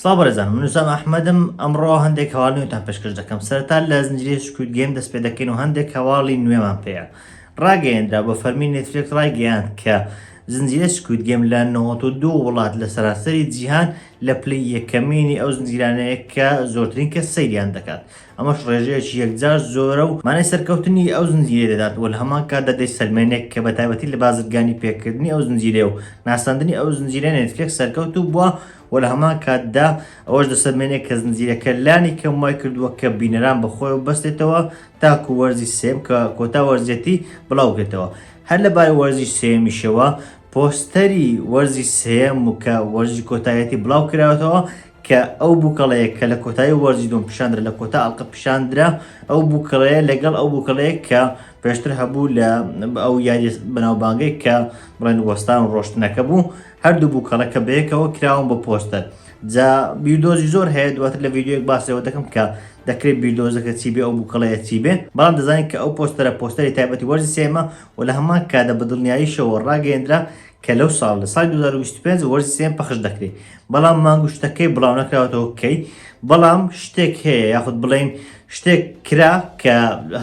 سڵاو بەرەزان من نوسام ئەحمەدم ئەمڕۆ هەندێک هەواڵ نوێتان پێشکەش دەکەم سەرتا لە زنجیرە سکوت گەیم دەست پێ دەکەین و هەندێک هەواڵی نوێمان پێەیە ڕاگەیەندرا بۆ فەرمی نێتفلێک ڕایگەیاند کە زنجیرە سکوت گەم لە 92 وڵات لە سەراسەری جیهان لە پلی یەکەمینی ئەو زنجیرانەیە کە زۆرترین کە سەیریان دەکات ئەمەش ڕێژەیەکی یەکجار زۆرە و مانای سەرکەوتنی ئەو زنجیرەی دەدات و لە هەمان کاتدا دەیسەلمێنێ کە بە تایبەتی لە بازرگانی پێکردنی ئەو زنجیرەیە و ناساندنی ئەو زنجیرەیە نێتفلێکس سەرکەوتوو بووە و لە هەمان کاتدا ئەوەش دەسەلمێنێ کە زنجیرەکە لانی کەم وای کردووە کە بینەران بە خۆیەوە ببەستێتەوە تاکوو وەرزی سێم کە کۆتا وەرزیەتی بڵاو بکرێتەوە هەر لە بارەی وەرزی سێیەمیشەوە پۆستەری وەرزی سێیەم و کە وەرزی کۆتایەتی بڵاو کراوەتەوە کە ئەو بوکەڵەیە کە لە کۆتایی وەرزی دوم پیشاندرا لە کۆتا ئەڵلقە پیشاندرا ئەو بوکەڵەیە لەگەڵ ئەو بوکەڵەیە کە پێشتر هەبوو لە ئەو یاری بەناوبانگەی کە بڵێن وەستان و ڕۆشتنەکە بوو هەردوو بوکەڵە کە بەیەکەوە کراون بە پۆستەر جا بیردۆزی زۆر هەیە دواتر لە یددیوەک باسەوە دەکەم کە دەکرێت بیردۆزەکە چی بێ ئەو بوکەڵەیە چی بێ بەڵام دەزانین کە ئەو پۆستەرە پۆستەری تایبەتی وەرزی سێمە و لە هەمان کادا بە دڵنیاییشەوە ڕاگەیەندرا کە لەو ساڵ لە سای 2025 وەرزی سێم پەخش دەکرێت بەڵام مانگ و شتەکەی بڵاو نەکراوەتەوە کەی بەڵام شتێک هەیە یاخود بڵین شتێک کرا کە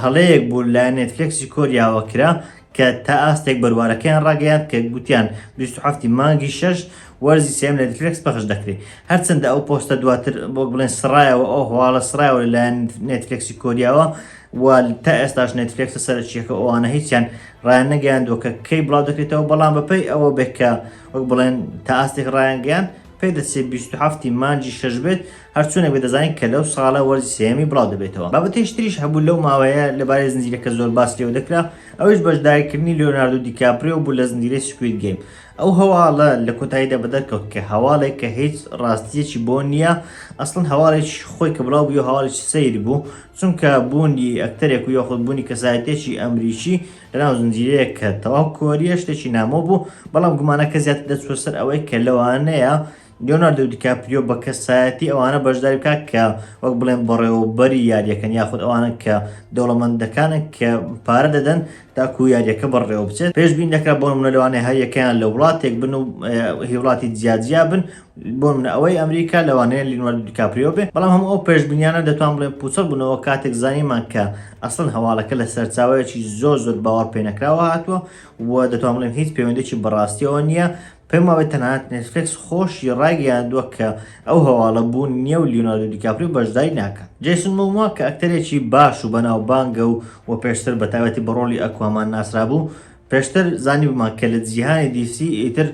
هەڵەیەک بوو لە نێتفلکسی کۆریاوە کرا کە تا ئاستێک بەروارەکەیان ڕاگەیان کە گوتیان 27 مانگی شش وەرزی سێم لە نێتفلکس پەخش دەکرێت هەرچەندە ئەو پۆستە دواتر بۆ بڵێن سرایەوە ئەو هەواڵە سرایەوە لەلایەن نێتفلکسی کۆریاوە و تا ئێستاش نێتفلکسە سەرچیەکە ئەوانە هیچیان ڕایان نەگەیاندووە کە کەی بڵاو دەکرێتەوە بەڵام بەپی ئەوە بێکە وەک بڵێن تا ئاستێک ڕایانگەیاند پێدەچێ 27 مانجی شەش بێت هەرچوونە بێ دەزانین کە لەو ساڵە وەرزی سێمی بڵاو دەبێتەوە بابەتەی شتریش هەبوو لەو ماوەیە لەبارەی زنجیرەکە زۆر باس لێو دەکرا ئەوش بەشداریکردنی لۆناردو دیکاپریۆ بوو لە زنجیرەی سکوید گەیم ئەو هەواڵە لە کۆتاییدا بەدەرکەوت کە هەواڵێک کە هیچ ڕاستیەکی بۆ نییە ئەسڵن هەواڵێک خۆی کە بڵاو بوو هەواڵێکی سیر بوو چونکە بوونی ئەکتەرێک و یاخود بوونی کەسایەتێکی ئەمریکی لەناو زنجیرەیەک کە تەواو کۆریە شتێکی نامۆ بوو بەڵام گومانەکە زیاتر دەچوە سەر ئەوەی کە لەوانەیە لیۆناردو دیکاپریۆ بە کەسایەتی ئەوانە بەشداری بکات کە وەک بڵێن بەڕێوەبەری یاریەکەن یاخود ئەوانە کە دەوڵەمەندەکانە کە پارە دەدەن تاکو یاریەکە بەڕێوە بچێت پێشبین دەکرا بۆ منە لەوانەیە هەریەکەیان لە وڵاتێک بن و هیوڵاتی جیاجیا بن بۆ نمونە ئەوەی ئەمریکا لەوانەیە لینواردو دیکاپریۆ بێ بەڵام هەموو ئەو پێشبینیانە دەتوان بڵێن پوچەڵ بوونەوە کاتێک زانیمان کە ئەسڵەن هەواڵەکە لە سەرچاوەیەکی زۆر زۆر باوەڕ پێنەکراوە هاتووە و دەتوان بڵێن هیچ پەیوەندێکی بەڕاستیەوە نییە پێم وابێ تەنانەت نێتفلێکس خۆشی ڕایگەیاندووە کە ئەو هەواڵە بوون نییە و لیۆناردۆ دیکاپریۆ بەشداری ناکات جەیسن مۆموا کە ئەکتەرێکی باش و بەناوبانگە و و پێشتر بە تایبەتی بە ڕۆڵی ئەکوامان ناسرابوو پێشتر زانیبوومان کە لە جیهانی دی سی ئیتر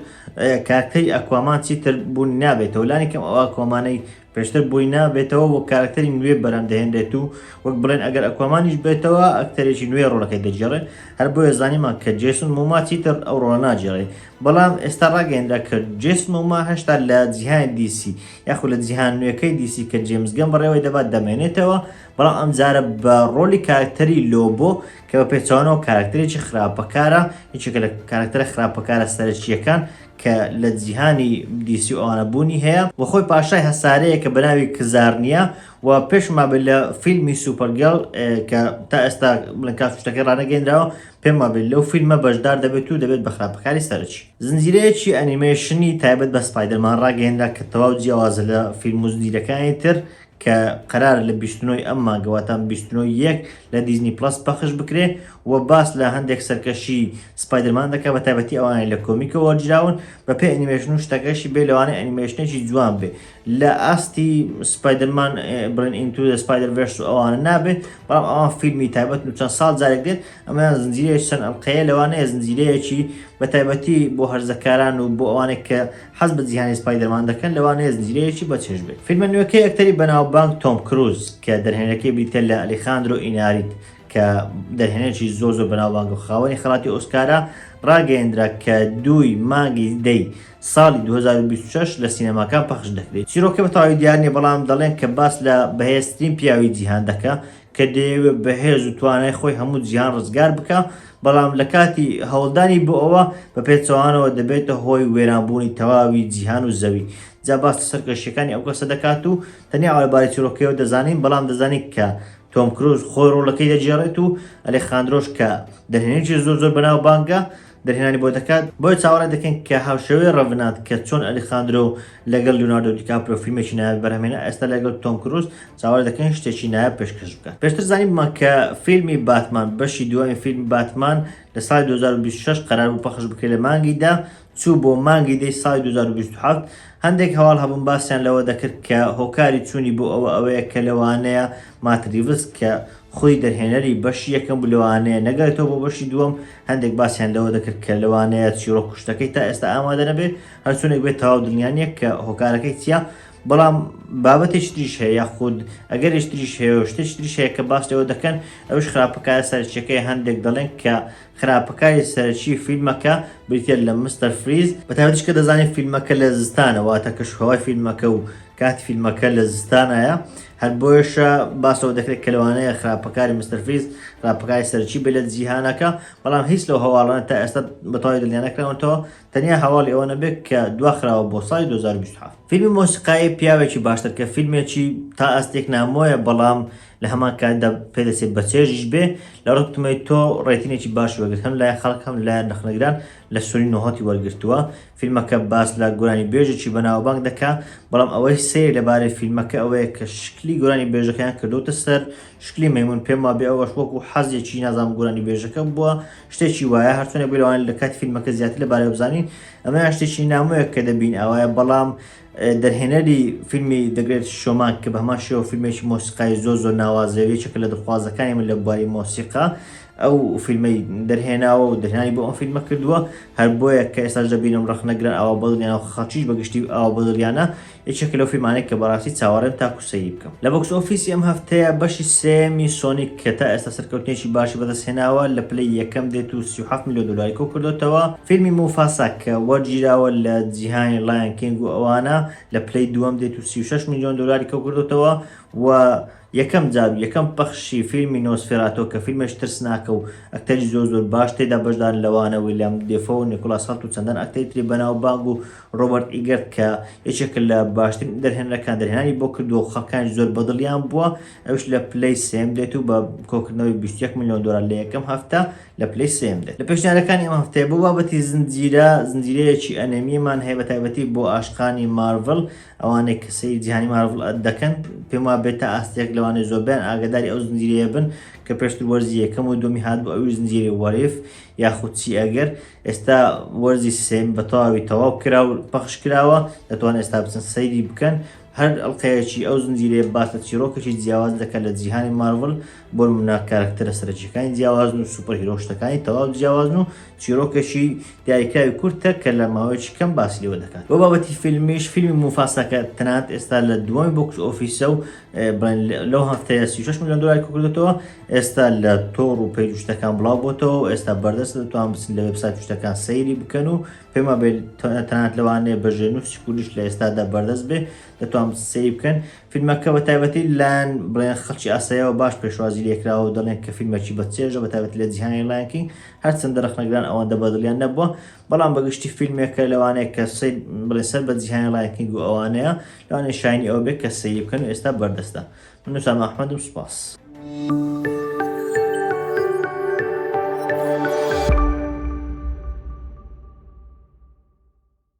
کارکتەری ئەکوامان چیتر بوونی نابێتەوە لانیکەم ئەو ئەکوامانەی پێشتر بووی نابێتەوە وەک کارکتەری نوێ بەرەم دەهێنرێت و وەک بڵێن ئەگەر ئەکوامانیش بێتەوە ئەکتەرێکی نوێ ڕۆڵەکەی دەگێڕێ هەر بۆیە زانیمان کە جێسون موما چیتر ئەو ڕۆڵە ناگێڕێ بەڵام ئێستا ڕاگەیەنرا کە جێسون موما هەشتا لە جیهانی دیسی یاخود لە جیهان نوێەکەی دیسی کە جێمزگەم بەڕێوەی دەبات دەمێنێتەوە بەڵام ئەم جارە بە ڕۆلی کارکتەری لۆبۆ کە بە پێچەوانەوە کاراکتەرێکی خراپەکارە، یەکێکە لە کاراکتەرە خراپەکارە سەرەکییەکان کە لە جیهانی دی سی و ئەوانە بوونی هەیە و خۆی پاشای هەسارەیەکە بە ناوی کزارنیا و پێشم وابێت لە فیلمی سوپەرگێڵ کە تا ئێستا بڵێن کات و شتەکەی ڕانەگەیندراوە پێم وابێت لەو فیلمە بەشدار دەبێت و دەبێت بە خراپەکاری سەرەکی. زنجیرەیەکی ئەنیمەیشنی تایبەت بە سپایدەرمان ڕاگەیەنرا کە تەواو جیاوازە لە فیلم و زنجیرەکانی تر کە قەرارە لە بیست و نۆ ی ئەم مانگە واتە بیست و نۆ ی یەک لە دیزنی پڵەس پەخش بکرێ و باس لە هەندێک سەرکەشی سپایدەرمان دەکا بە تایبەتی ئەوانەی لە کۆمیکەوە وەرگیراون بە پێی ئەنیمەیشن و شتەکەشی بێ لەوانەیە ئەنیمەیشنێکی جوان بێ لە ئاستی سپایدەرمان بڕین ئینتو دە سپایدەر ڤێرس و ئەوانە نابێ بەڵام ئەوان فیلمی تایبەت و چەند ساڵ جارێک دێت ئەمەیان زنجیرەیەکی چەند ئەڵقەیە لەوانەیە زنجیرەیەکی بە تایبەتی بۆ هەرزەکاران و بۆ ئەوانەی کە حەز بە جیهانی سپایدەرمان دەکەن لەوانەیە زنجیرەیەکی بەچێژ بێت فیلمە نوێکەی ئەکتەری بەناوبانگ تۆم کروز کە دەرهێنەرەکەی بریتە لە ئەلیخاندرۆ ئیناریت کە دەرهێنەرێکی زۆر زۆر بەناوبانگ و خاوەنی خەڵاتی ئۆسکارە ڕاگەیەندرا کە دووی مانگی دەی ساڵی 2026 لە سینەماکان پەخش دەکرێت چیرۆکە بەتەواوی دیار نیە بەڵام دەڵێن کە باس لە بەهێزترین پیاوی جیهان دەکا کە دەیەوێت بە هێز و توانای خۆی هەموو جیهان ڕزگار بکا، بەڵام لە کاتی هەوڵدانی بۆ ئەوە، بە پێچەوانەوە دەبێتە هۆی وێرانبوونی تەواوی جیهان و زەوی. جا باس لە سەرکەشییەکانی ئەو کەسە دەکات و تەنیا ئەوە لە باری چیڕۆکەکەیەوە دەزانین، بەڵام دەزانین کە تۆم کروز خۆی ڕۆڵەکەی دەگێڕێت و ئەلێخاندرۆش کە دەرهێنەرێکی زۆر زۆر بەناوبانگە، دەرهێنانی بۆ دەکات، بۆیە چاوەڕێ دەکەین کە هاوشێوەی ڕەڤنانت کە چۆن ئەلیخاندرۆ لەگەڵ لیۆناردۆ دیکاپریۆ فیلمێکی نایاب بەرهەمهێنا، ئێستا لەگەڵ تۆم کروز چاوەڕێ دەکەین شتێکی نایاب پێشکەش بکات. پێشتر زانیبوومان کە فیلمی باتمان، بەشی دووەمی فیلمی باتمان لە ساڵی دوو هەزار و بیست و شەش قەرار بوو پەخش بکرێت لە مانگی دە، چوو بۆ مانگی دەی ساڵی دوو هەزار و بیست و حەوت، هەندێک هەواڵ هەبوون باسیان لەوە دەکرد کە هۆکاری چوونی بۆ ئەوە ئەوەیە کە لەوانەیە مات ریڤس کە خۆی دەرهێنەری بەشی یەکەم بوو لەوانەیە نەگەرێتەوە بۆ بەشی دووەم هەندێک باسیان لەوە دەکرد کە لەوانەیە چیڕۆک کوشتەکەی تا ئێستا ئامادە نەبێت هەرچونێک بێت تەواو دڵنیانە کە هۆکارەکەی چیە بەڵام بابەتێک تریش هەیە یاخود ئەگەر شتریش هەیە و شتێک تریش هەیە کە باس لەوە دەکەن ئەوش خراپەکار سەرچەکەی هەندێک دەڵێن کە خراپەکاری سەرچی فیلمەکە بریتە لە مستەر فریز بەتاوتش کە دەزانین فیلمەکە لە زستانەوە تە کەش هەوای فیلمەکە و کات فیلمەکە لە زستانایە هەر بۆیەشە باسەوە دەکرێت کە لەوانەیە خراپەکاری مستەرفیز راپەکاری سەرچی بێت لە جیهانەکە بەڵام هیچ لەو هەواڵانە تا ئێستا بەتەواوی دڵنیانەکراونەوە تەنیا هەواڵی ئەوە نەبێت کە دواخراوە بۆ ساڵی 2020 فیلمی مۆسیقایی پیاوێکی باشتر کە فیلمێکی تا ئەستێک نامۆیە بەڵام لە هەمان کاتدا پێدەچێت بە چێژیش بێ لە ڕکتمەی تۆ ڕێتینێکی باش وەگرت هەم لای خەڵک هەم لایەن نەخنەگران لە سوری نهۆتی وەرگرتووە فیلمەکە باس لە گۆرانیبێژێکی بەناوبانگ دەکا، بەڵام ئەوەی سەیر لەبارەی فیلمەکە ئەوەیە کە شکلی گۆرانیبێژەکەیان کردۆتە سەر شکلی مەیمون، پێم وابێ ئەوەش وەکو حەزێکی نازانم گۆرانیبێژەکە بووە، شتێکی وایە، هەرچۆنێک بێ لەوانەیە لەکاتی فیلمەکە زیاتر لەبارەیەوە بزانین، ئەمەیان شتێکی نامۆیە کە دەبین ئاوایە، بەڵام دەرهێنەری فیلمی The Great Showman کە بە هەمان شێوە فیلمێکی مۆسیقای زۆر زۆر ناوازەیە و یەکێکە لە دڵخوازەکانی من لە بواری مۆسیقا ئەو فیلمەی دەرهێناوە و دەرهێنانی بۆ ئەم فیلمە کردووە هەر بۆیە کە ئێستاش دەبینم ڕەخنەگران ئاوا بەدڵیانە و خەڵکیش بەگشتی ئاوا بەدڵیانە یەکێکە لەو فیلمانەی کە بەڕاستی چاوەڕێم تاکو سەیری بکەم لە بۆکس ئۆفیسی ئەم هەفتەیە بەشی سێمی سۆنیک کە تا ئێستا سەرکەوتنێکی باشی بەدەستهێناوە لە پلەی یەکەم دێت و 37 میلیۆن دلاری کۆ کردوتەوە فیلمی موفاسا کە وەرگیراوە لە جیهانی لایەن کینگ و ئەوانە لە پلەی دووەم دێت و 36 میلیۆن دلاری کۆ کردوتەوە و یەکەم جار و یەکەم پەخشی فیلمی نۆسفێراتۆ کە فیلمێش ترسناکە و ئەکتەری زۆر زۆر باش تێدا بەشدار لەوانە ویلیام دێفۆ و نیکولاس هەڵت و چەندان ئەکتەری تری بەناوبانگ و ڕۆبەرت ئیگەرت کە یەکێکە لە باشترین دەرهێنەرەکان دەرهێنانی بۆ کردووە و خەڵکانیش زۆر بەدڵیان بووە، ئەویش لە پلەی سێیەم دێت و بە کۆکردنەوەی بیست و یەک ملیۆن دۆلار لە یەکەم هەفتە لە پلەی سێیەم دێت. لە پێشنیارەکانی ئەم هەفتەیە بۆ بابەتی زنجیرە، زنجیرەیەکی ئەنێمیمان هەیە بە تایبەتی بۆ عاشقانی مارڤڵ، ئەوانەی کە سەیری جیهانی مارڤڵ دەکەن پێم وایە بێتە ئاستێک لەوانەیە زۆربەیان ئاگاداری ئەو زنجیرەیە بن کە پێشتر وەرزی یەکەم و دووەمی هاتبوو ئەویش زنجیرەی What If یاخود چی ئەگەر ئێستا وەرزی سێم بە تەواوی تەواو کرا و پەخش کراوە دەتوان ئێستا بچن سەیری بکەن هەر ئەڵلقەیەکی ئەو زنجیرەیە باس لە چیرۆکەکی جیاواز دەکەن لە جیهانی مارڤل بۆ نمونە کارکتەرە سەرەکیەکانی جیاوازن و سوپەر هیرۆشتەکانی تەواو جیاوازن و چیرۆکەشی دیاریکراوی کورتە کە لە ماوەیەکی کەم باسی لێوە دەکات بۆ بابەتی فیلمیش فیلمی موفاساکە تەنانەت ئێستا لە دووەمی بۆکس ئۆفیسە و لەو هەفتەیە 36 ملیۆن دۆلاری کۆکردۆتەوە ئێستا لە تۆڕ و پەیج شتەکان بڵاو بۆتەوە ئێستا بەردەست دەتوان بچن لە وبسات شتەکان سەیری بکەن و پێما بێت تەنات لەوانەیە بەژێ نووس کوردش لە ئێستادا بەردەست بێ دەتوان سەیری بکەن فیلمەکە بە تایبەتی لان بڵێن خەڵکی ئاسایەوە باش پێشوازی لێکراوە و دەڵێن کە فیلمەکی بە چێژە بە تایبەت لە جیهانی لایەنکینگ هەرچەندە رەخنەگران ئەوەندە بەدڵیان نەبووە بەڵام بەگشتی فیلمێکە لەوانەیە کە سەیر بڵێ سەر بە جیهانی لایەنکینگ و ئەوانەیە لەوانێ شاینی ئەو بێت کە سەیری بکەن و ئێستا بەردەستە من ئوسامە ئەحمەدم سوپاس.